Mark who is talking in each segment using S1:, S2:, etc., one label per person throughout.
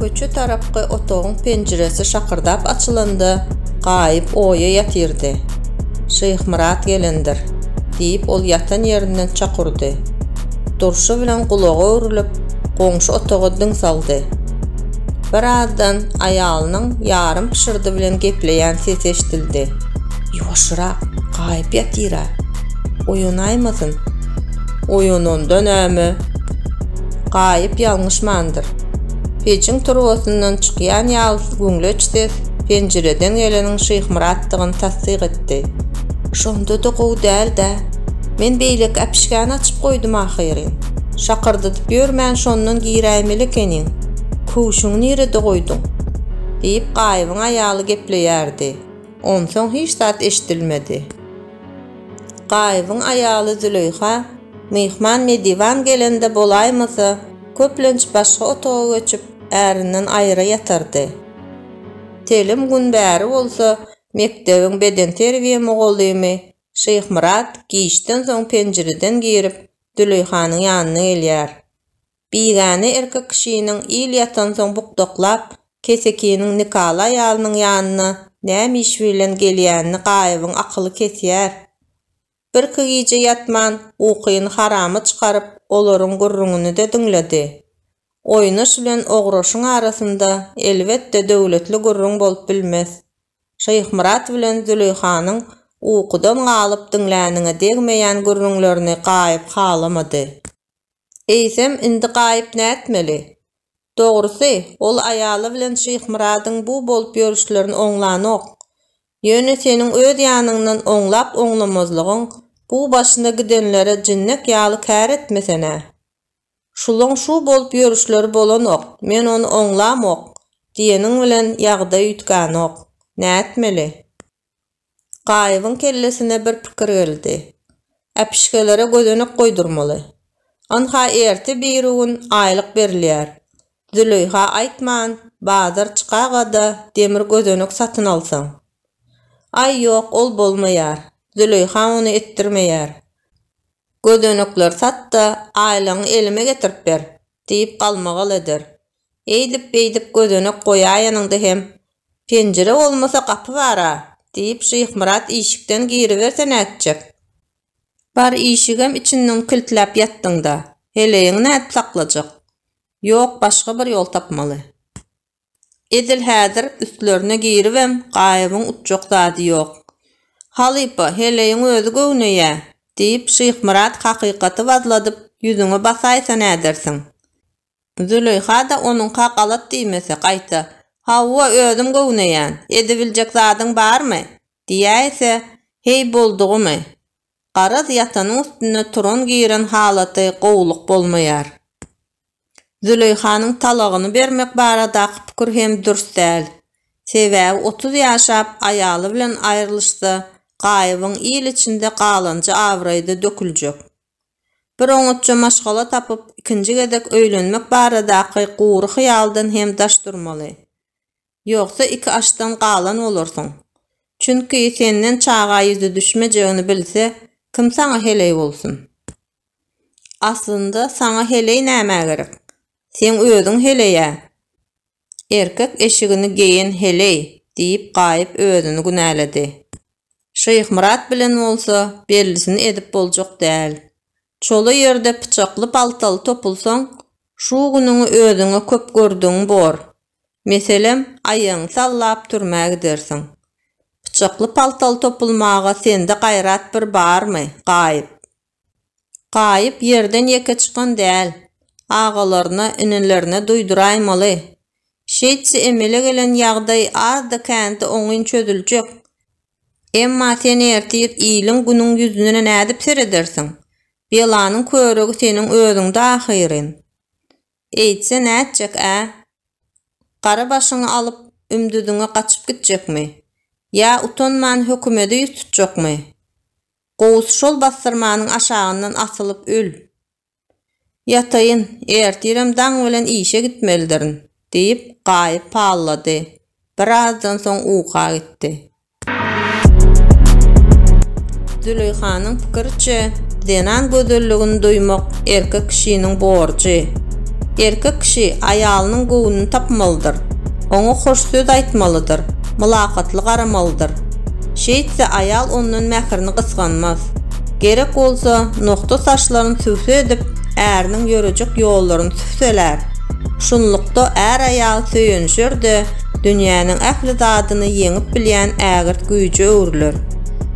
S1: Köçe tarapky otagyň penjiresi şakyrdap açylanda, Gaýyp oýa ýatyrdy. Şyhmyrat gelendir, diýip, ol ýatan ýerinden çak urdy. Durşy bilen gulagy öwrülip, goňşy otaga diň saldy. Birazdan aýalynyň ýarym pyşyrdy bilen gepleýän sesi eşidildi. Ýuwaşyrak, Gaýyp ýatyr-a. Oýanaýmasyn. Oýananda näme? Gaýyp ýalňyşmandyr. Pejiň turbasyndan çykýan ýalys güňleç ses penjireden geleniň Şyhmyratdygyny tassyk etdi. Şonda-da gowy däl-dä. Men beýleki äpişgäni açyp goýdum ahyryn. Şakyrdadyp ýörmän şondan giräýmeli ekeniň. Köwşüňi nirede goýduň? diýip, Gaýybyň aýaly gepleýärdi. Onsoň hiç zat eşidilmedi. Gaýybyň aýaly Züleýha, Myhman mediwan gelende bolaýmasa, köplenç başga otaga göçüp, ärinden aýra ýatardy. Telim gün bäri bolsa, mekdebiň bedenterbiýe mugallymy Şyhmyrat giçden soň penjireden girip, Züleýhanyň ýanyna gelýär. Bigäne erkek kişiniň il ýatansoň bukdaklap, kesekiniň Nikala aýalynyň ýanyna näme iş bilen gelýänini Gaýybyň akyly kesýär. Birki gije ýatman, ukyny harama çykaryp, olaryň gürrüňini-de diňledi. Oýnaş bilen Ograşyň arasynda, elbetde, döwletli gürrüň bolup bilmez. Şyhmyrat bilen Züleýhanyň ukudan galyp diňläniňe degmeýän gürrüňlerini Gaýyp halamady. Eýsem, indi Gaýyp nätmeli? Dogrusy, ol aýaly bilen Şyhmyradyň bu bolup ýörüşlerini oňlanok. Ýöne seniň öz ýanyňdan oňlap-oňlamazlygyň bu başyna gidenlere jinnek ýaly kär etmesene. Şulaň şu bolup ýörüşleri bolanok, men ony oňlamok diýeniň bilen ýagdaý üýtgänok. Nätmeli? Gaýybyň kellesine bir pikir geldi. Äpişgelere gözenek goýdurmaly. Ynha ertir birigün aýlyk berilýär. Züleýha aýtman, bazar çykaga-da demir gözenek satyn alsaň. Aý, ýok, ol bolmaýar. Züleýha ony etdirmeýär. Gözenekleri sat-da, aýlygyňy elime getirip ber! diýip galmagal eder. Eýdip-beýdip gözenek goýaýanyňda hem, Penjire bolmasa gapy bar-a! diýip, Şyhmyrat işikden giriberse nätjek? Bar işigem içinden kiltläp ýatdyňda, heleýiňi nädip saklajak? Ýok, başga bir ýol tapmaly. Edil häzir üstlerine giribem, Gaýybyň utjak zady ýok. Halypa, heleýiň özi göwneýä! diýip, Şyhmyrat hakykaty wazladyp, ýüzüňe basaýsa nädersiň? Züleýha-da onuňka galat diýmese, gaýta, Hawa, özüm göwneýän, edibiljek zadyň barmy? diýäýse, heý, boldugymy? Garaz, ýatanyň üstünde turan-giren halaty gowulyk bolmaýar. Züleýhanyň talagyny bermek baradaky pikir hem dürs däl. Sebäbi otuz ýaşap, aýaly bilen aýrylyşsa, Gaýybyň il içinde galanja abraýy-da döküljek. Bir oňatja maşgala tapyp, ikinji gezek öýlenmek baradaky gury hyýaldan hem daş durmaly. Ýogsa iki aşdan galan bolarsyň. Çünki senden çaga ýüzi düşmejegini bilse, kim saňa heleý bolsun? Aslynda saňa heleý nämä gerek? Seň özüň heleý-ä. Erkek eşigini geýen heleý! diýip Gaýyp özüni günäledi. Şyhmyrat bilen bolsa bellisini edip boljak däl. Çola ýerde pyçakly-paltaly topulsaň, şu günüňi özüňe köp gördügiň bor. Meselem, aýagyňy sallap türmä gidersiň. Pyçakly-paltaly topulmaga sende gaýrat bir barmy, Gaýyp? Gaýyp ýerden ýeke çykan däl. Agalaryna, inelerine duýduraýmaly. Şeýtse emele gelen ýagdaý azdy-kände oňyn çözüljek. Emma sen ertir iliň günüň ýüzüne nädip seredersiň? Belanyň körügi seniň özüňde ahyryn. Eýtse nätjek-ä? Gara başyňy alyp, ümdüziňe gaçyp gitjekmi? Ýa utanman hökümede ýüz tutjakmy? Gowusy şol bassyrmanyň aşagyndan asylyp öl. Ýataýyn, ertirem daň bilen işe gitmelidirin, diýip, Gaýyp pallady. Birazdan soň uka gitdi. Züleýhanyň pikiriçe, zenan gözelligini duýmak erkek kişiniň borjy. Erkek kişi aýalynyň göwnüni tapmalydyr, oňa hoş söz aýtmalydyr, mylakatly garamalydyr. Şeýtse, aýal ondan mährini gysganmaz. Gerek bolsa, nokda saçlaryny tüwse edip, äriniň ýörejek ýollaryny tüwselär. Şunlukda, är-aýal söýenişer-de, dünýäniň ähli zadyny ýeňip bilýän ägirt güýje öwrüler.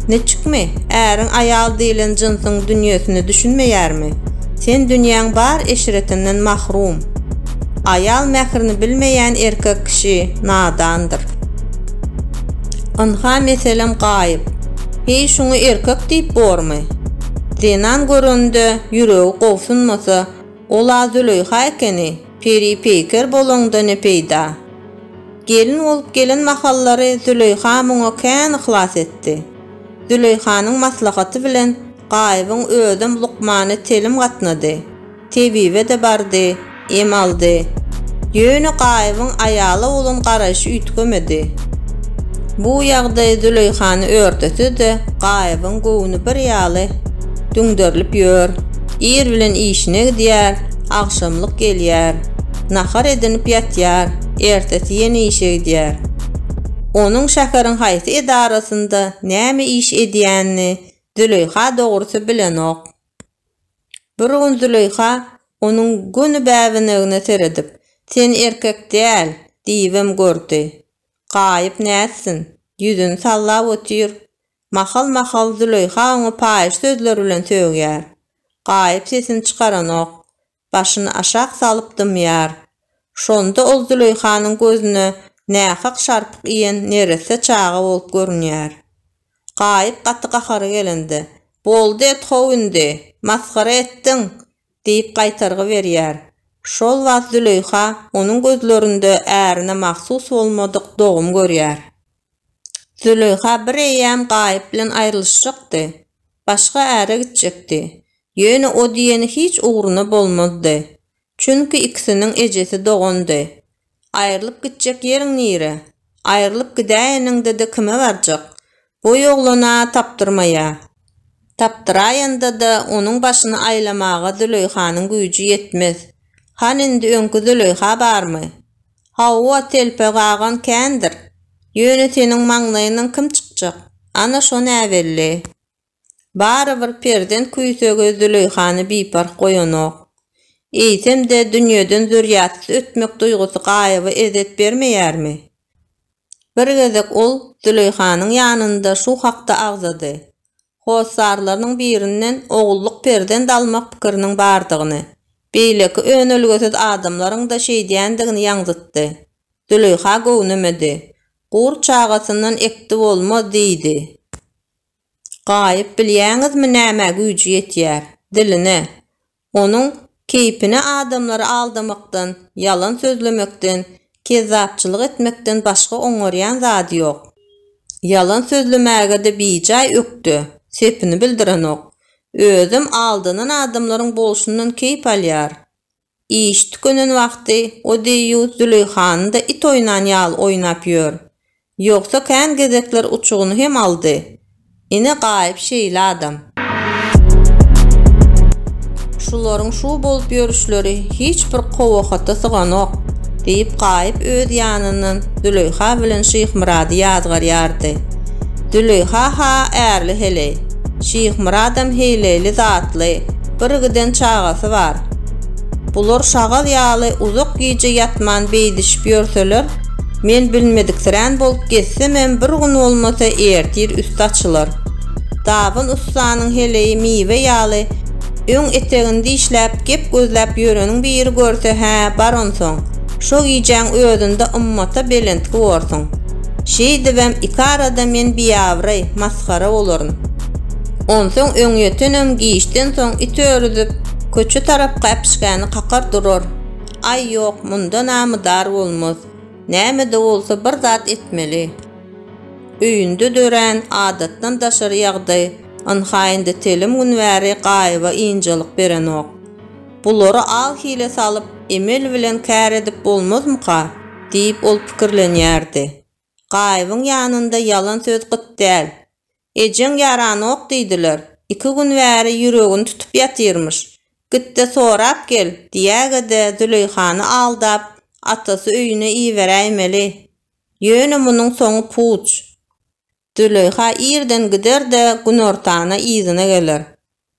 S1: Niçikmi? Äriň aýal diýlen jynsyň dünýesine düşünmeýärmi? Sen dünýäň bar eşretinden mahrum. Aýal mährini bilmeýän erkek kişi nadandyr. Ynha, meselem, Gaýyp. Heý, şuňa erkek diýip bormy? Zenan görende ýüregi gobsunmasa, ol-a Züleýha ekeni, peri peýker bolaňda ne peýda. Gelin bolup gelen mahallary Züleýha muňa kän yhlas etdi. Züleýhanyň maslahaty bilen Gaýybyň özem lukmany telim gatnady. Tebibe-de bardy, em aldy. Ýöne Gaýybyň aýala bolan garaýşy üýtgemedi. Bu ýagdaý Züleýhany örtese-de, Gaýybyň göwni bir ýaly düňderilip ýör, ir bilen işine gidýär, agşamlyk gelýär, nahar edinip ýatýar, ertesi ýene işe gidýär. Onuň şäheriň haýsy edarasynda näme iş edýänini Züleýha dogrusy bilenok. Bir gün Züleýha onuň göni bäbenegine seredip, Sen erkek däl! diýibem gördi. Gaýyp nätsin, ýüzüni sallap otyr. Mahal-mahal Züleýha oňa paýyş sözler bilen sögýär. Gaýyp sesini çykaranok. başyny aşak salyp dymýar. Şonda ol Züleýhanyň gözüne nähak şarpyk iýen neresse çaga bolup görünýär. Gaýyp gaty gahary gelende, Boldy et-how indi! Masgara etdiň! diýip gaýtargy berýär. Şol wagt Züleýha onuň gözlerinde ärine mahsus bolmadyk dogum görýär. Züleýha bir eýýäm Gaýyp bilen aýrylyşjakdy. Başga äre gitjekdi. Ýöne o diýeni hiç ugruna bolmazdy. Çünki ikisiniň ejesi dogandy. Aýrylyp gitjek ýeriň nire? Aýrylyp gidäýeniňde-de kime barjak? Boý oglana tapdyrmaýa. Tapdyraýanda-da onuň başyny aýlamaga Züleýhanyň güýji ýetmez. Hany indi öňki Züleýha barmy? Hawa, telpä gagan kändir. Ýöne seniň maňlaýyňdan kim çykjak? Ana, şo näbelli. Barybir perzent küýsegi Züleýhany biparh goýanok. Eýsem-de, dünýeden zürýatsyz ötmek duýgusy Gaýyba ezzet bermeýärmi? Bir gezek ol Züleýhanyň ýanynda şu hakda agzady, hossarlarynyň birinden ogullyk perzent almak pikiriniň bardygyny, beýleki önelgesiz adamlaryň-da şeýdýändigini ýaňzytdy. Züleýha göwnemedi. Gurt çagasyndan ekdi bolmaz diýdi. Gaýyp, bilýäňizmi nämä güýji ýetýär? Diline. Onuň keýpine adamlary aldamakdan, ýalan sözlemekden, kezzapçylyk etmekden başga oňarýan zady ýok. Ýalan sözlemäge-de bijaý ökde, sepini bildirenok. Özem aldanan adamlaryň bolşundan keýp alýar. Iş tükenen wagty o deýýus Züleýhany-da it oýnan ýaly oýnap ýör. Ýogsa kän gezekler uçugyny hem aldy. Ine Gaýyp şeýle adam. Şularyň şu bolup ýörüşleri hiç bir kowakata syganok, diýip Gaýyp öz ýanyndan Züleýha bilen Şyhmyrady ýazgarýardy. Züleýha-ha ärli heleý. Şyhmyradam heýleýli zatly, birgiden çagasy bar. Bular şagal ýaly uzak gije ýatman beýdişip ýörseler, Men bilmediksirän bolup gezsemem bir gün bolmasa ertir üsti açylar. Dabyn ussanyň heleýi miwe ýaly öň etegini dişläp gep gözläp ýörenin biri görse hä bar onsoň şo gijäň özünde ymmata belentgi borsuň. Şeýdibem iki arada men biabraý, masgara bolaryn. Onsoň öňýötenem giçden soň it örüzip köçe tarap gäpişgäni kakar durar. Aý ýok, munda namydar bolmaz. Näme-de bolsa bir zat etmeli. Öýünde dörän adatdan daşary ýagdaý ynha indi telim gün bäri Gaýyba ynjalyk berenok. Bulary al-hile salyp, emel bilen kär edip bolmazmyka? diýip ol pikirlenýärdi. Gaýybyň ýanynda ýalan söz gyt däl. Ejeň ýaranok diýdiler. Iki gün bäri ýüregini tutup ýatyrmyş. Git-de sorap gel, diýäge-de Züleýhany aldap, atasy öýüne iberäýmeli. Ýöne munuň soňy puç. Züleýha irden gider-de, günortana yzyna geler.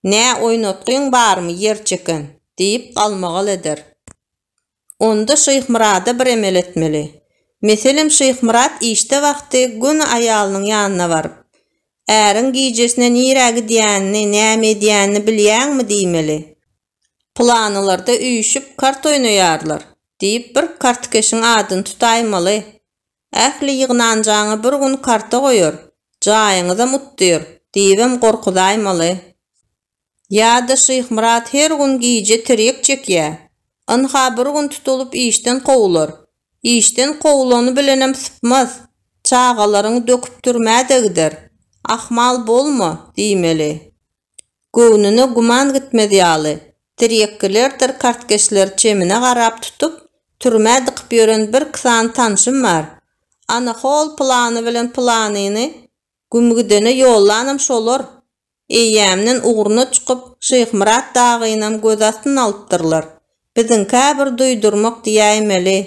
S1: Nä oýnatgyň barmy, ýerçeken? diýip galmagal eder. Onda Şyhmyrada bir emel etmeli. Meselem Şyhmyrat işde wagty göni aýalynyň ýanyna baryp, Äriň gijesine nirä gidýänini, näme edýänini bilýäňmi? diýmeli. Pylanylarda üýşüp kart oýnaýarlar, diýip bir kartkeşiň adyny tutaýmaly. Ähli ýygnanjaňy bir gün karta goýar, jaýyňyzam utdyr, diýibem gorkuzaýmaly. Ýa-da Şyhmyrat her gün gije tirýek çekýä. Ynha bir gün tutulyp işden kowular. Işden kowulany bilenem sypmaz. Çagalaryňy döküp türmä-de gider. Ahmal bolma, diýmeli. Göwnüne güman gitmez ýaly, tirýekgilerdir kartkeşleri çemine garap tutup, türmä dykyp ýören birki sany tanşym bar. Ana hol pylany bilen pylanyny Güm gidene ýollanam şolar. Eýýämden ugruna çykyp, Şyhmyrat dagynam göz astyn alypdyrlar. Biziň-kä bir duýdurmak diýäýmeli.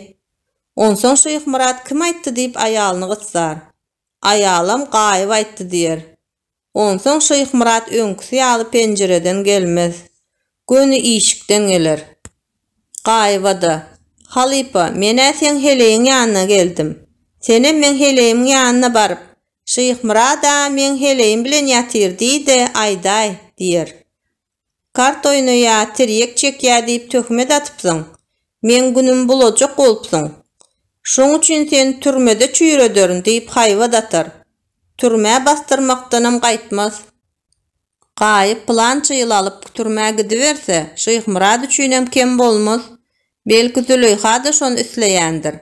S1: Onsoň Şyhmyrat kim aýtdy diýip aýalyny gysar. Aýalam Gaýyp aýtdy diýer. Onsoň Şyhmyrat öňküsi ýaly penjireden gelmez. Göni işikden geler. Gaýyba-da, Halypa, men-ä seň heleýiň ýanyna geldim. Senem meň heleýimiň ýanyna baryp, Şyhmyrat-a meň heleýim bilen ýatyr diý-de, aýdaý, diýer. Kart oýnaýa, tirýek çekýä diýip töhmet atypsyň. Meň günüm bulajak bolupsyň. Şoň üçin seni türmede çüýrederin diýip haýbat atar. Türmä basdyrmakdanam gaýtmaz. Gaýyp pylança ýyl alyp türmä gidiberse, Şyhmyrat üçinem kem bolmaz. Belki Züleýha-da şony isleýändir.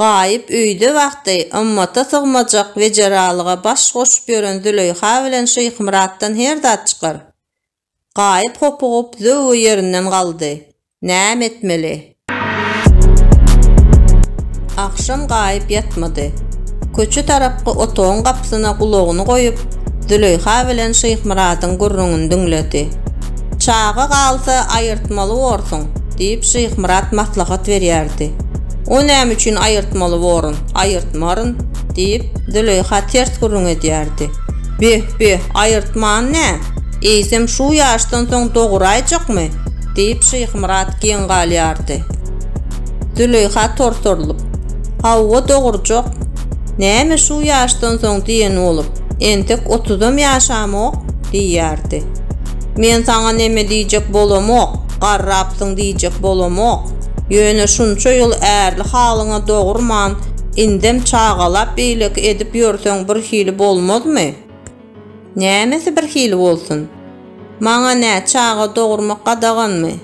S1: Gaýyp öýde wagty ymmata sygmajak wejeralyga baş goşup ýören Züleýha bilen Şyhmyratdan her zat çykar. Gaýyp hopugyp zöwwe ýerinden galdy. Näme etmeli? Agşam gaýyp ýatmady. Köçe tarapky otagyň gapysyna gulagyny goýup, Züleýha bilen Şyhmyradyň gürrüňini diňledi. Çaga galsa, aýyrtmaly borsuň, diýip, Şyhmyrat maslahat berýärdi. O näme üçin aýyrtmaly borun, aýyrtmaryn, diýip, Züleýha ters gürrüň edýärdi. Beh, beh, aýyrtman nä? Eýsem, şu ýaşdan soň doguraýjakmy? Diýip, Şyhmyrat geň galýardy. Züleýha torsarylyp. Hawa, dogurjak. Näme şu ýaşdan soň diýen bolup, entek otuzam ýaşamok? diýýärdi. Men saňa neme diýjek bolamok, garrapsyň diýjek bolamok. Ýöne şunça ýyl ärli halyňa dogurman, indem çagalap beýleki edip ýörseň birhili bolmazmy? Nämesi birhili bolsun? Maňa nä, çaga dogurmak gadaganmy?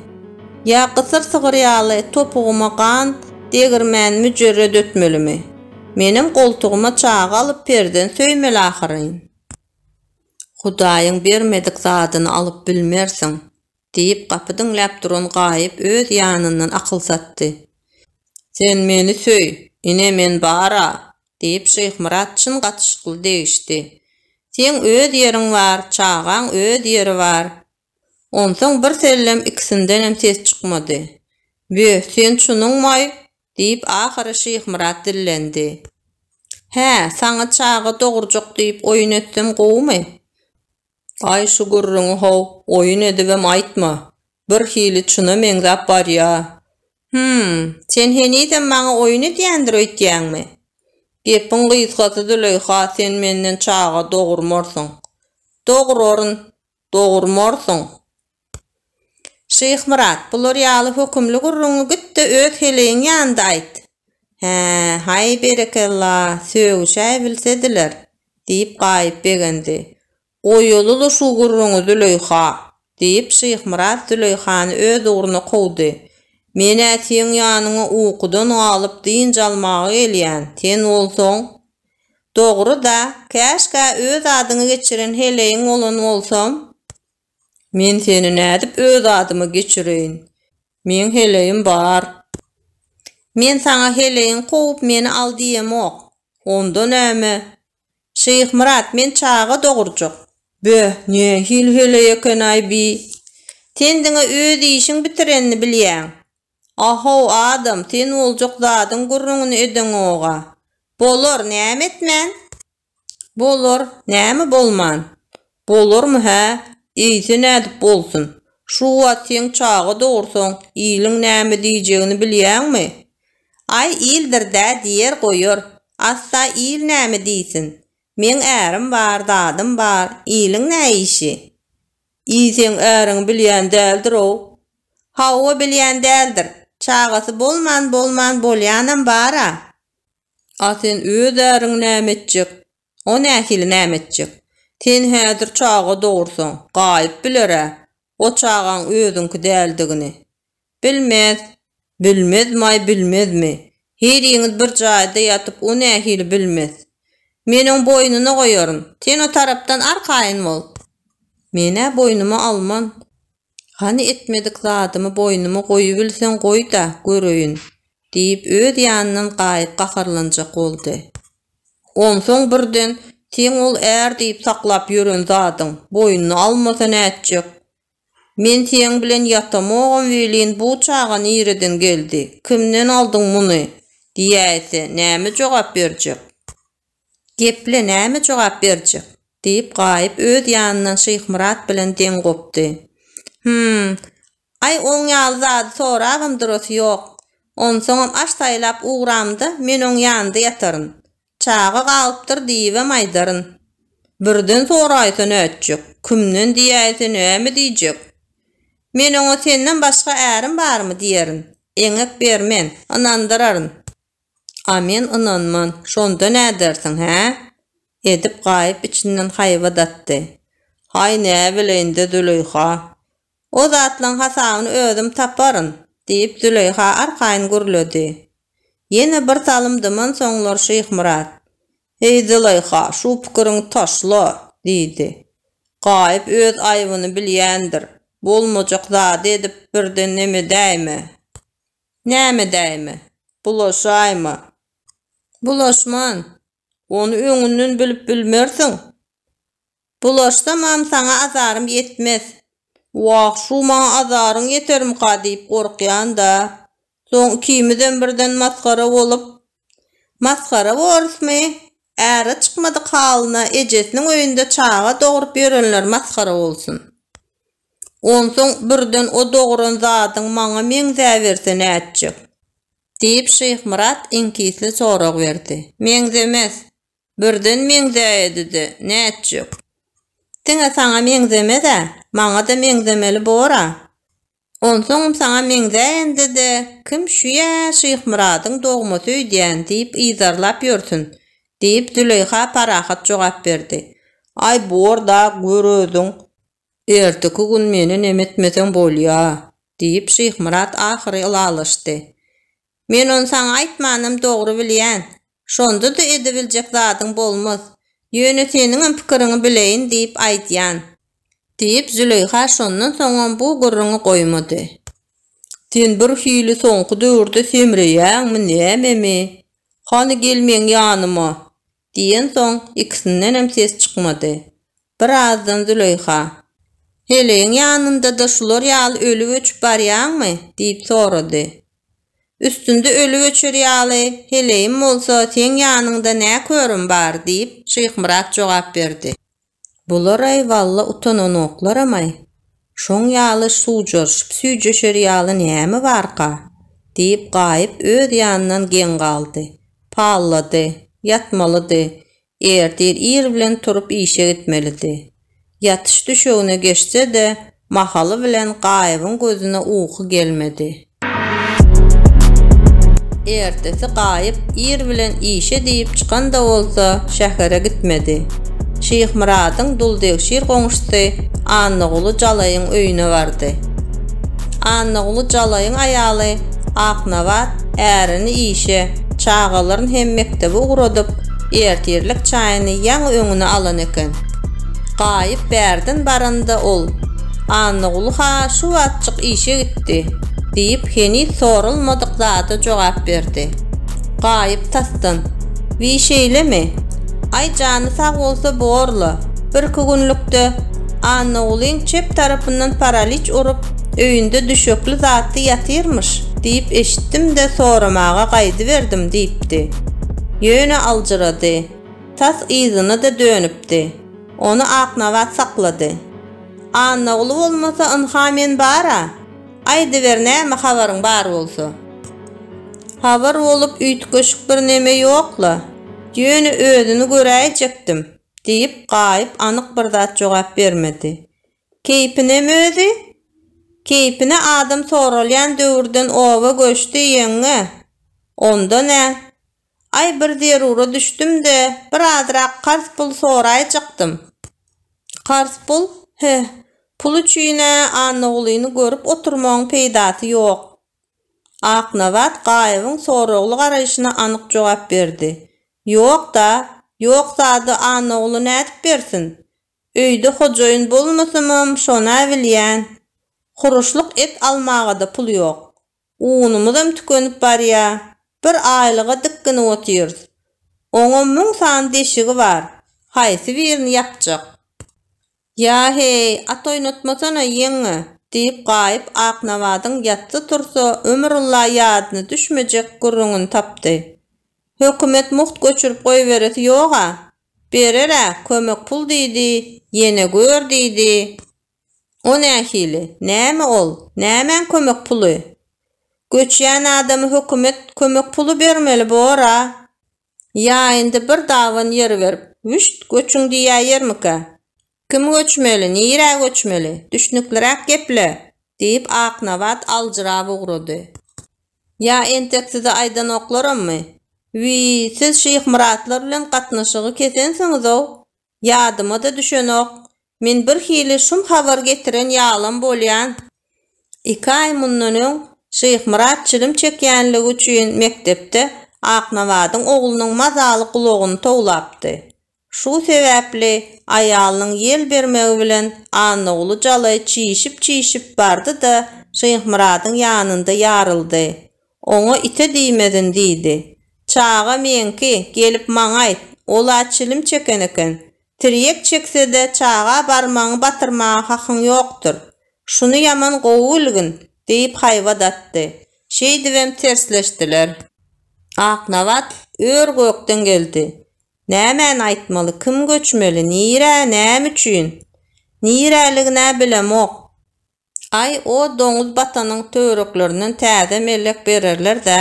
S1: Ýa gysyr sygyr ýaly topugyma gan degirmän müjerred ötmelimi? Menem goltugyma çaga alyp perzent söýmeli ahyryn. Hudaýyň bermedik zadyny alyp bilmersiň, diýip, gapy diňläp duran Gaýyp öz ýanyndan akyl satdy. Sen meni söý, ine men bar-a, Diýip, Şyhmyrat çyn gatyşykly degişdi. Seň öz ýeriň bar, çagaň öz ýeri bar. Onsoň birsellem ikisindenem ses çykmady. Bö, sen çunuňmaý? diýip, ahyry Şyhmyrat dillendi. Hä, saňa çaga dogurjak diýip oýun etsem gowumy? Aý, şu gürrüňi-how, oýun edibem aýtma. Birhili çuna meňzäp barýa. Hüm, sen henizem maňa oýun edýändir öýtýäňmi? Gepiň gysgasy Züleýha sen menden çaga dogurmarsyň. Doguraryn, dogurmarsyň. Şyhmyrat, bular ýaly hökümli gürrüňi git-de öz heleýiň ýanynda aýt. Hä, haý berekella, sögüşäýbilsediler, diýip Gaýyp begendi. Goýaly-la şu gürrüňi, Züleýha! diýip, Şyhmyrat Züleýhany öz ugruna kowdy. Men-ä seň ýanyňa ukudan galyp dynç almaga gelýän, sen bolsaň. Dogry-da, käşgä öz adyňy geçiren heleýiň bolan bolsam? Men seni nädip öz adyma geçireýin? Meň heleýim bar. Men saňa heleýiňi kowup meni al diýemok. Onda näme? Şyhmyrat, men çaga dogurjak. Böh, nähili heleý eken-aý bi. Sen diňe öz işiň bitirenini bilýäň. A-how, adam, sen boljak zadyň gürrüňini edeňog-a. Bolar, näme etmän? Bolar, näme bolman? Bolarmy hä? Eýse nädip bolsun? Şu wagt sen çaga dogursaň, iliň näme diýjegini bilýäňmi? Aý, ildir-dä diýer goýar. Assa il näme diýsin? Meň ärim bar, zadym bar, iliň nä işi? Eý, seň äriňi bilýän däldir-ow? Hawa, bilýän däldir. Çagasy bolman, bolman bolýanam bar-a. A sen öz äriň näme etjek? O nähili näme etjek? Sen häzir çaga dogursaň, gaýyp biler-ä, o çagaň özüňki däldigini. Bilmez. Bilmezmaý bilmezmi? Hiliňiz bir jaýda ýatyp o nähili bilmez? Men oň boýnuna goýaryn. Sen o tarapdan arkaýyn bol. Men-ä boýnuma alman. Hany etmedik zadymy boýnuma goýubilseň goý-da, göreýin, diýip öz ýanyndan gaýyp gaharlanjak boldy. Onsoň birden, Seň ol är diýip saklap ýören zadyň, boýnuny almasa nätjek? Men seň bilen ýatamogam welin, bu çaga nireden geldi, kimden aldyň muny? diýäýse, näme jogap berjek? Geple, näme jogap berjek? diýip, Gaýyp öz ýanyndan Şyhmyrat bilen deň gopdy. Hym, Aý, oň ýaly zady sorabam durasy ýok. Onsoňam aş saýlap ugramda men oň ýanynda ýataryn. Çaga galypdyr diýibem aýdaryn. Birden soraýsa nätjek, kimden diýäýse näme diýjek. Men oňa senden başga ärim barmy diýerin. Eňek bermen, ynandyraryn. A men ynanman, şonda nädersiň, hä? Edip gaýyp içinden haýbat atdy. Haý, näbileýin-dä, Züleýha. O zatlaň hasabyny özüm taparyn, diýip, Züleýha arkaýyn gürledi. Ýene birsalym dymansoňlar Şyhmyrat, Heý, Züleýha, şu pikiriňi taşla! diýdi. Gaýyp öz aýbyny bilýändir. Bolmajak zady edip birden nemedäýme. Nämedäýme? Bulaşaýma. Bulaşman. Ony öňünden bilip bilmersiň. Bulaşsamam saňa azarym ýetmez. Wah, şu maňa azaryň ýetermika diýip gorkýan-da. Soň ikimizem birden masgara bolup. Masgara borusmy? Äre çykmadyk halyna ejesiniň öýünde çaga dogrup ýörenler masgara bolsun. Onsoň birden o dogran zadyň maňa meňzäberse nätjek? diýip Şyhmyrat iňkisli sorag berdi. Meňzemez. Birden meňzäýedi-de, nätjek? Diňe saňa meňzemez-ä, maňa-da meňzemeli bor-a. Onsoňam saňa meňzäýende-de kim şu ýa Şyhmyradyň dogmasy öýdýän diýip yzarlap ýörsün, diýip, Züleýha parahat jogap berdi. Aý, bor-da, gör özüň. Erteki gün meni nemetmeseň bolýa, diýip, Şyhmyrat ahyry ylalaşdy. Men ony saňa aýtmanam dogry bilýän. Şonda-da edebiljek zadyň bolmaz. Ýöne seniňem pikiriňi bileýin diýip aýdýan. Diýip, Züleýha şondan soňam bu gürrüňi goýmady. Sen birhili soňky döwürde semreýäňmi, nämemi? Hany gel meň ýanyma, Diýensoň, ikisindenem ses çykmady. Birazdan Züleýha. Heleýiň ýanynda-da şular ýaly ölüp-öçüp barýaňmy? diýip sorady. Üstünde ölüp-öçer ýaly heleýim bolsa seň ýanyňda nä körüm bar? diýip, Şyhmyrat jogap berdi. Bular-aý walla utananoklaram-aý, şoň ýaly suwjaryşyp-süýjeşer ýaly näme barka? diýip Gaýyp öz ýanyndan geň galdy. Pallady. Ýatmalydy. Ertir ir bilen turup işe gitmelidi. Ýatyş düşegine geçse-de, mahaly bilen Gaýybyň gözüne uky gelmedi. Ertesi Gaýyp ir bilen işe diýip çykan-da bolsa, şähere gitmedi. Şyhmyradyň duldegşir goňşusy Annaguly jalaýyň öýüne bardy. Annaguly jalaýyň aýaly Aknabat ärini işe, çagalaryn hem mekdebe ugradyp, ertirlik çaýyny ýaňy öňüne alan eken. Gaýyp bärden baranda ol, Annaguly-ha şu wagtjyk işe gitdi. gitdi? diýip heniz sorulmadyk zada jogap berdi. Gaýyp tasdan, Wiý şeýlemi? Aý jany sag bolsa bor-la, birki günlükde Annagulyň çep tarapyndan paraliç urup, öýünde düşekli zatly ýatyrmyş diýip eşitdim-de soramaga gaýdyberdim diýipdi. Ýöne aljyrady. Tas yzyna-da dönüpdi. Ony Aknabat saklady. Annaguly bolmasa ynha men bar-a. Aýdyber näme habaryň bar bolsa. Habar bolup üýtgeşik birneme ýok-la. Ýöne özüni göräýjekdim, diýip Gaýyp anyk bir zat jogap bermedi. Keýpinem özi? Keýpine adam soralýan döwürden oba göçdi, ýeňňe. Onda nä? Aý, bir zerura düşdüm-de, bir azrak karz pul soraýjykdym. Karz pul? Heh, pul üçin-ä Annagulyny görüp oturmagyň peýdasy ýok. Aknabat Gaýybyň soragly garaýşyna anyk jogap berdi. Ýok-da, ýok zady Annaguly nädip bersin? Öýde hojaýyn bolmasam-am, şon-a bilýän. Huruşlyk et almaga-da pul ýok. Unumyzam tükenip barýar. Bir aýlyga dikginip otyrys. Oňam müň sany deşigi bar. Haýsy birini ýapjak? Ýa-heý, at oýnatmasana, ýeňňe! diýip Gaýyp Aknabadyň ýatsa-tursa ömrülla ýadyna düşmejek gürrüňini tapdy. Hökümet mugt göçürip goýberesi ýog-a. Berer-ä, kömek pul diýdi, ýene gör diýdi. O nähili? Näme ol? Nämäň kömek puly? Göçýän adama hökümet kömek puly bermeli bor-a. Ýaýynda bir daban ýer berip, wüşt, göçüň diýäýermikä? Kim göçmeli, nirä göçmeli? Düşnükliräk geple! diýip, Aknabat aljyrap ugrady. Ýa entek size aýdanoklarammy? Wiý, siz Şyhmyratlar bilen gatnaşygy kesensiňiz-ow! Ýadyma-da düşenok. Men birhili şum habar getiren ýalam bolýan. Iki aý mundan öň Şyhmyrat çilim çekýänligi üçin mekdepde Aknabadyň oglunyň mazaly gulagyny towlapdy. Şu sebäpli aýalynyň ýel bermegi bilen Annaguly jalaý çişip-çişip bardy-da, Şyhmyradyň ýanynda ýaryldy. Oňa ite diýmedin diýdi. Çaga meňki, gelip maňa aýt. Ol-a çilim çeken eken. Tirýek çekse-de, çaga barmagyňy batyrmaga hakyň ýokdur. Şuny ýaman gowy bilgin! diýip haýbat atdy. Şeýdibem tersleşdiler. Aknabat ör-gökden geldi. Nämäni aýtmaly, kim göçmeli, nirä, näme üçin? Niräligin-ä bilemok. Aý, o doňuz batanyň töwereklerinden täze mellek bererler-dä.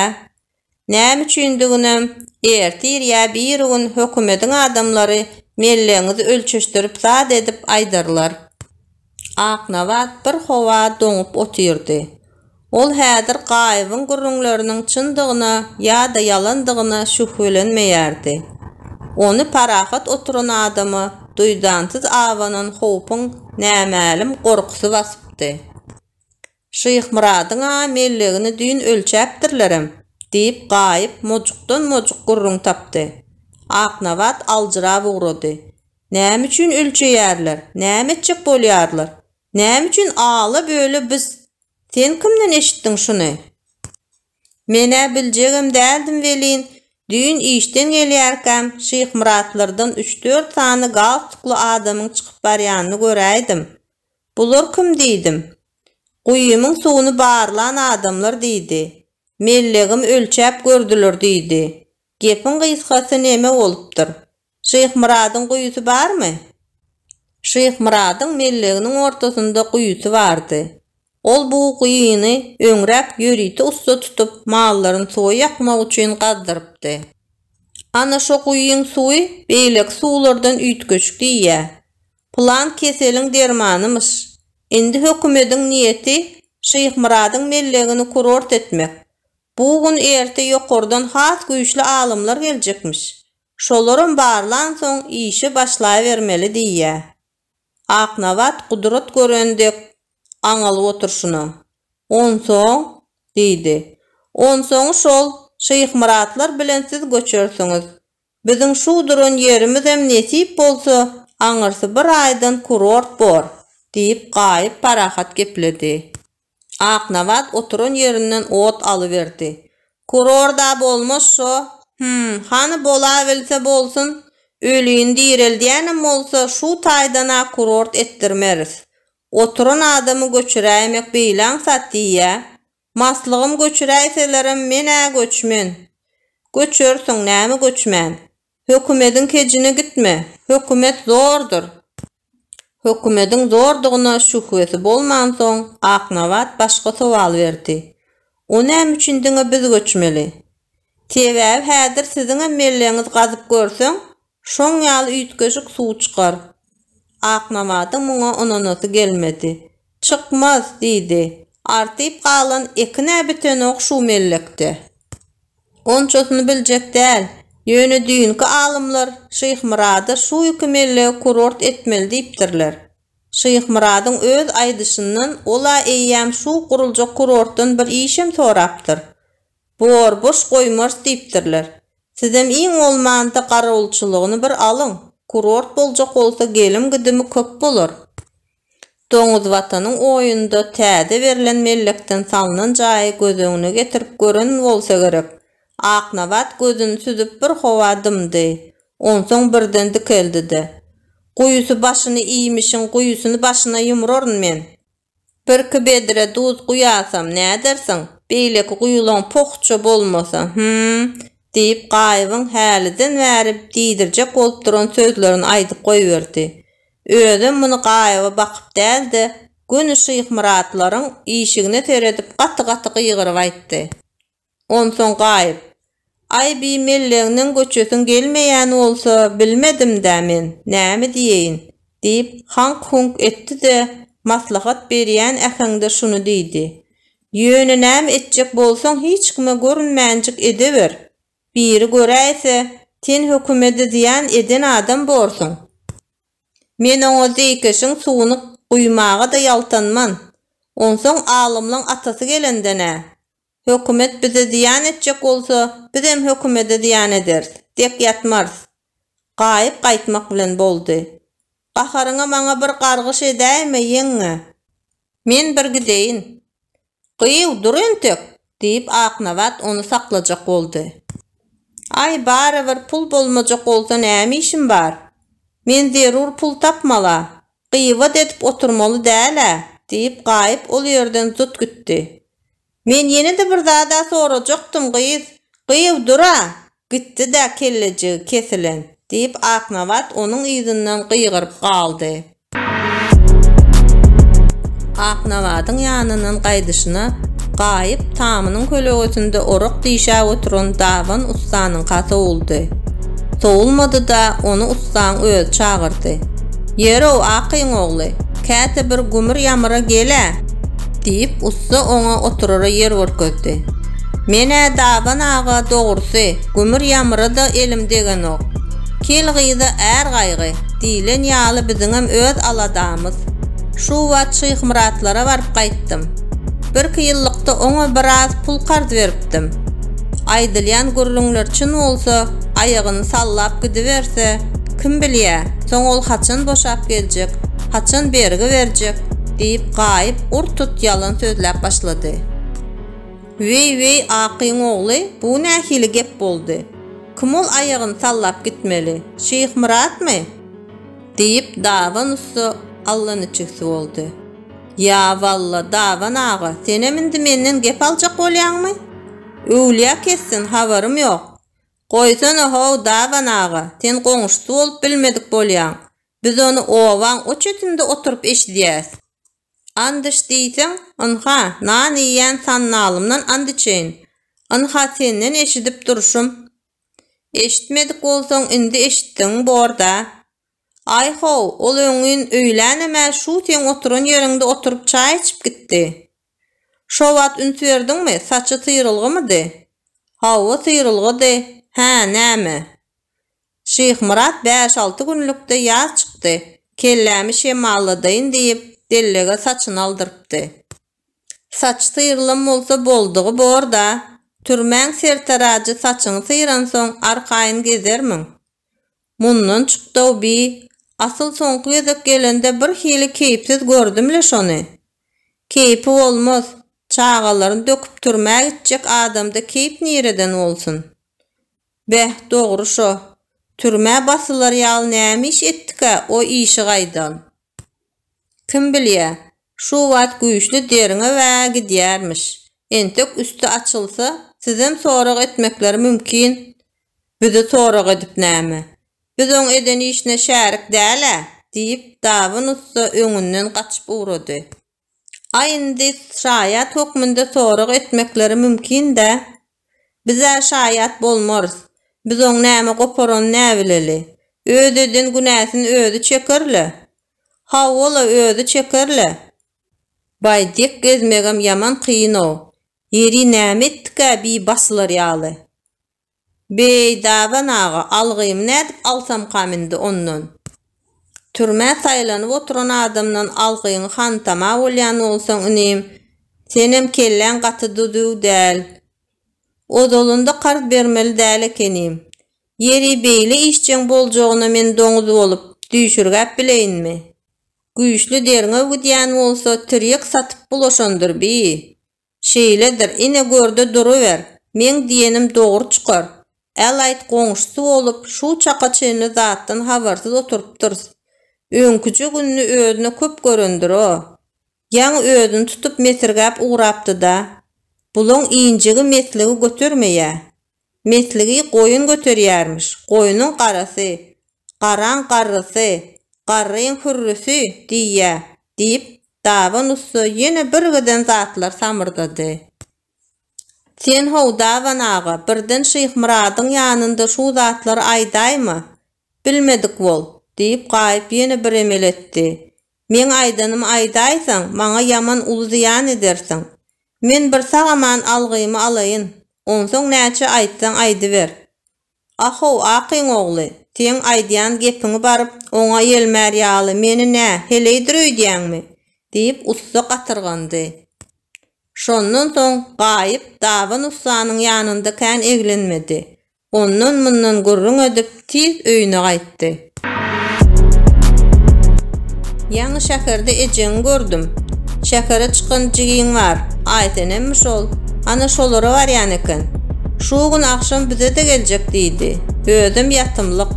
S1: Näme üçindiginem, ertir ýa birigün hökümediň adamlary mellegiňizi ölçeşdirip zat edip aýdarlar. Aknabat bir howa doňup otyrdy. Ol häzir Gaýybyň gürrüňleriniň çyndygyna ýa-da ýalandygyna şübhelenmeýärdi. Ony parahat oturan adama duýdansyz abanan howpuň nämälim gorkusy basypdy. Şyhmyradyň-a mellegini düýn ölçäpdirlerem, diýip, Gaýyp mojukdan-mojuk gürrüň tapdy. Aknabat aljyrap ugrady. Näme üçin ölçeýärler? Näme etjek bolýarlar? Näme üçin ala-böle biz? Sen kimden eşitdiň şuny? Men-ä biljegem däldim welin, düýn işden gelýärkäm Şyhmyratlardan üç-dört sany galstukly adamyň çykyp barýanyny göräýdim. Bular kim diýdim. Guýymyň suwuny barlan adamlar diýdi. Mellegim ölçäp gördüler diýdi. Gepiň gysgasy neme bolupdyr? Şyhmyradyň guýusy barmy? Şyhmyradyň melleginiň ortasynda guýusy bardy. Ol bu guýyny öňräk ýörite ussa tutup, mallaryny suwa ýakmak üçin gazdyrypdy. Ana şo guýyň suwy beýleki suwlardan üýtgeşik diýýä. Pylan keseliň dermanymyş. Indi hökümediň niýeti Şyhmyradyň mellegini kurort etmek. Bu gün-erte ýokardan has güýçli alymlar geljekmiş. Şolaram barlansoň işe başlaýbermeli diýýä. Aknabat gudrat gören dek gaňalyp oturşyna, Onsoň? diýdi. Onsoňy şol, Şyhmyratlar bilen siz göçersiňiz. Biziň şu duran ýerimizem nesip bolsa, aňyrsy bir aýdan kurort bor, diýip, Gaýyp parahat gepledi. Aknabat oturan ýerinden ot alyberdi. Kurorda bolmaz şo? Hümm, hany bolabilse bolsun, ölini direldýänem bolsa şu taýdan-a kurort etdirmeris. Oturan adamy göçüräýmek beýle aňsat diýýä. Maslygym göçüräýselerem men-ä göçmen. Göçersiň, näme göçmän. Hökümediň kejine gitme. Hökümet zordur. Hökümediň zordugyna şühbesi bolmansoň, Aknabat başga sowal berdi. O näme üçin diňe biz göçmeli? Sebäbi häzir siziňem melleňiz gazyp görseň, şoň ýaly üýtgeşik suw çykar. Aknabadyň muňa ynanasy gelmedi. Çykmaz, diýdi. Artyp galan ekin-ä bitenok şu mellekde. Onçasyny biljek däl. Ýöne düýnki alymlar Şyhmyrada şu iki mellegi kurort etmeli diýipdirler. Şyhmyradyň öz aýdyşyndan ol-a eýýäm şu guruljak kurortdan bir işem sorapdyr. Bor, boş goýmarys diýipdirler. Sizem iň bolmanda garawulçylygyny bir alyň. Kurort boljak bolsa gelim-gidimi köp bolar. Doňuz Watanyň oýunda täze berlen mellekden salnan jaýy göz öňüne getirip gören bolsa gerek. Aknabat gözüni süzüp bir howa dymdy. Onsoň birden dikeldi-de. Guýusy başyny iýmişiň guýusyny başyna ýumraryn men. Birki bedre duz guýasam, nädersiň? Beýleki guýulaň poh-ça bolmasa, hym? diýip, Gaýybyň häliden bäri diýdirjek bolup duran sözlerini aýdyp goýberdi. Özem muny gaýyba bakyp däl-de, göni Şyhmyratlaryň işigine seredip gaty-gaty gygyryp aýtdy. Onsoň gaýyp, Aý bi mellegneň göçesiň gelmeýän bolsa, bilmedim-dä men, näme diýeýin? diýip, haňk-huňk etdi-de, maslahat berýän äheňde şuny diýdi, Ýöne näme etjek bolsaň hiç kime görünmänjik edeber. Biri göräýse, sen hökümede zyýan eden adam borsuň. Men oňa zeýkeşiň suwuny guýmaga-da ýaltanman. Onsoň alymlaň atasy gelenden-ä, Hökümet bize zyýan etjek bolsa, bizem hökümede zyýan ederis, dek ýatmarys. Gaýyp gaýtmak bilen boldy. Gaharyňa maňa bir gargyş edäýme, ýeňňe. Men bir gideýin. Gyýw, dur entek! diýip, Aknabat ony saklajak boldy. Aý, barybir pul bolmajak bolsa näme işim bar? Men zerur pul tapmal-a, gyýwat edip oturmaly däl-ä, diýip, Gaýyp ol ýerden zut gitdi. Men ýene-de bir zad-a sorajakdym, gyz. Gyýw dur-a! Gitdi-dä kellejigi kesilen! diýip, Aknabat onuň yzyndan gygyryp galdy. Aknabadyň ýanyndan gaýdyşyna, Gaýyp tamynyň kölegesinde orak dişäp oturan daban ussanyňka sowuldy. Sowulmady-da, ony ussaň özi çagyrdy. Ýer-ow, Akyň ogly, käte bir gümür-ýamyra gel-ä! Diýip, ussa oňa oturara ýer görkezdi. Men-ä Daban aga dogrusy, gümür-ýamyra-da elim degenok. Kel gyza är gaýgy, diýlen ýaly biziňem öz aladamyz. Şu wagt Şyhmyratlara baryp gaýtdym. Birki ýyllykda oňa biraz pul karz beripdim. Aýdylýan gürrüňler çyn bolsa, aýagyny sallap gidiberse, kim bilýä, soň ol haçan boşap geljek, haçan bergi berjek? diýip, Gaýyp ur-tut ýalan sözläp başlady. Weý-weý, Akyň ogly, bu nähili gep boldy? Kim ol aýagyny sallap gitmeli? Şyhmyratmy? diýip, Daban ussa allaniçigsi boldy. Ýa walla, Daban aga, senem indi menden gep aljak bolýaňmy? Öwlýä kessin, habarym ýok. Goýsana-how, Daban aga, sen goňşusy bolup bilmedik bolýaň. Biz ony obaň o çetinde oturyp eşidýäs. Andiç diýseň, ynha, nan iýýän sandalymdan andiçeýin. Ynha senden eşidip durşum. Eşitmedik bolsaň, indi eşitdigiň bor-da. Aý-how, ol öňňin öýlänem-ä şu seň oturan ýeriňde oturyp çaý içip gitdi. Şo wagt üns berdiňmi, saçy syrylgymydy? Hawa, syrylgydy. Hä, näme? Şyhmyrat bäş-alty günlükde ýaz çykdy, kellämi şemalladaýyn diýip, dellege saçyny aldyrypdy. Saç syrylan bolsa boldugy bor-da, türmäň sertarajy saçyňy syransoň arkaýyn gezermiň? Mundan çykdaw bi, asyl soňky gezek gelende bir hili keýpsiz gördüm-le şony. Keýpi bolmaz, çagalaryny döküp türmä gitjek adamda keýp nireden bolsun. Beh, dogry şo, türmä basylar ýaly näme iş etdikä o işi gaýdan. Kim bilýä, şu wagt güýçli derňew-ä gidýärmiş. Entek üsti açylsa, sizem sorag etmekleri mümkin. Bizi sorag edip näme? Biz oň eden işine şärik däl-ä, diýip, Dabyn ussa öňünden gaçyp ugrady. A indi şaýat hökmünde sorag etmekleri mümkin-dä? Biz-ä şaýat bolmarys. Biz oň näme goparanyny näbileli. Öz eden günäsini özi çeker-le. Hawa-la özi çeker-le. Baý dek gezmegem ýaman kyn-ow. Ýeri näme etdik-ä bi basylar ýaly. Beý, Dadan aga, algymy nädip alsamkam indi ondan? Türmä saýlanyp oturan adamdan algyňy hantama bolýan bolsaň, inim, senem kelläň gaty du-düw däl. Ozalynda karz bermeli däl ekenim. Ýeri, beýle işjeň boljagyna men doňuz bolup, düýşürgäp bileýinmi? Güýçli derňew gidýän bolsa, tirýek satyp bulaşandyr bi? Şeýledir, ine gör-de duruber, meň diýenim dogry çykar. Al-aýt goňşusy bolup, şu çaka çenli zatdan habarsyz oturypdyrys. Öňküje gününi özüne köp görendir-o. Ýaňy özüni tutup mesirgäp ugrapdy-da. Bulaň injigi-mesligi götermeýä. Mesligi goýun göterýärmiş. Goýnuň garasy, garaň garrysy, garryň hürrüsi diýýä, diýip, daban ussa ýene birgiden zatlar samyrdady. Sen-how, daban aga, birden Şyhmyradyň ýanynda şu zatlary aýdaýma, bilmedik bol, diýip, Gaýyp ýene bir emel etdi. Meň aýdanymy aýdaýsaň, maňa ýaman uly zyýan edersiň. Men bir sag-aman algymy alaýyn, onsoň näçe aýtsaň aýdyber. A-how, Akyň ogly, seň aýdýan gepiňi baryp, oňa ýelmär ýaly meni nä, heleýdir öýdýäňmi? diýip, ussa gatyrgandy. Şondan soň Gaýyp daban ussanyň ýanynda kän eglenmedi. Ondan-mundan gürrüň edip, tiz öýüne gaýtdy. Ýaňy şäherde ejeňi gördüm. Şähere çykan jigiň bar, Aýsenemmi şol? Ana şolara barýan eken. Şu gün agşam bize-de geljek diýdi. Özem ýatymlyk.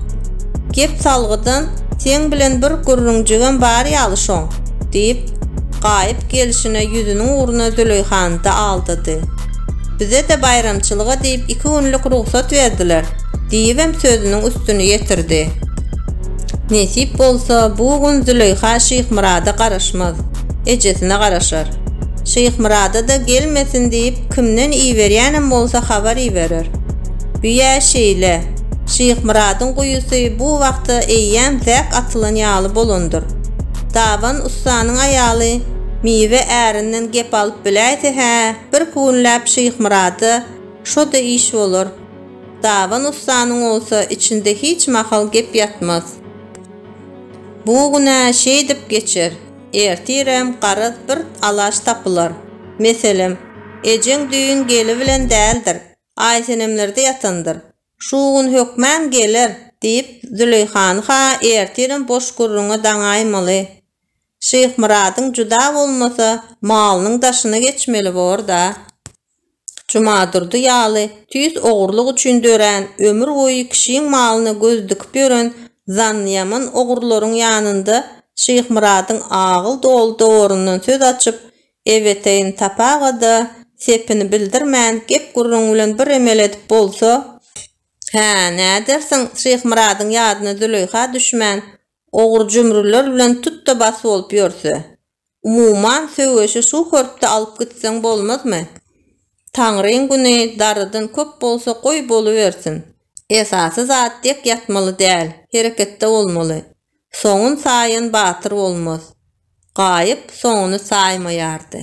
S1: Gep salgydan, seň bilen bir gürrüňjigem bar ýaly şoň, diýip, Gaýyp gelşine ýüzüniň ugruna Züleýhany-da aldady. Bize-de baýramçylyga diýip iki günlük rugsat berdiler, diýibem sözüniň üstüni ýetirdi. Nesip bolsa, bu gün Züleýha Şyhmyrada garaşmaz, ejesine garaşar. Şyhmyrada-da gelmesin diýip, kimden iberýänem bolsa habar iberer. Büýä şeýle. Şyhmyradyň guýusy bu wagta eýýäm zäk atylan ýaly bolandyr. Daban ussanyň aýaly miwe ärinden gep alyp biläýse-hä, Bir künläp Şyhmyrada şo-da iş bolar. Daban ussanyň bolsa içinde hiç mahal gep ýatmaz. Bu gün-ä şeýdip geçer. Ertirem garaz bir alaç tapylar. Meselem, ejeň düýn geli bilen däldir, Aýsenemlerde ýatandyr. Şu gün hökman geler, diýip, Züleýhany-ha ertirem boş gürrüňe daňaýmaly. Şyhmyradyň juda bolmasa, malynyň daşyna geçmeli bor-da. Jumadurdy ýaly tüýs ogurlyk üçin dörän, ömür boýy kişiň malyna göz dikip ýören zannyýaman ogurlaryň ýanynda Şyhmyradyň agyl doly dowaryndan söz açyp, Ebeteýin sapaga-da sepini bildirmän, gep-gürrüň bilen bir emel edip bolsa, Hä, nädersiň, Şyhmyradyň ýadyna Züleýha düşmän, ogur-jümrüler bilen tut-da-bas bolup ýörse? Umuman, söweşi şu hörpde alyp gitseň bolmazmy? Taňryň güni, darydyn köp bolsa, goý, bolubersin. Esasy zat dek ýatmaly däl, hereketde bolmaly. Soňun saýan batyr bolmaz. Gaýyp soňuny saýmaýardy.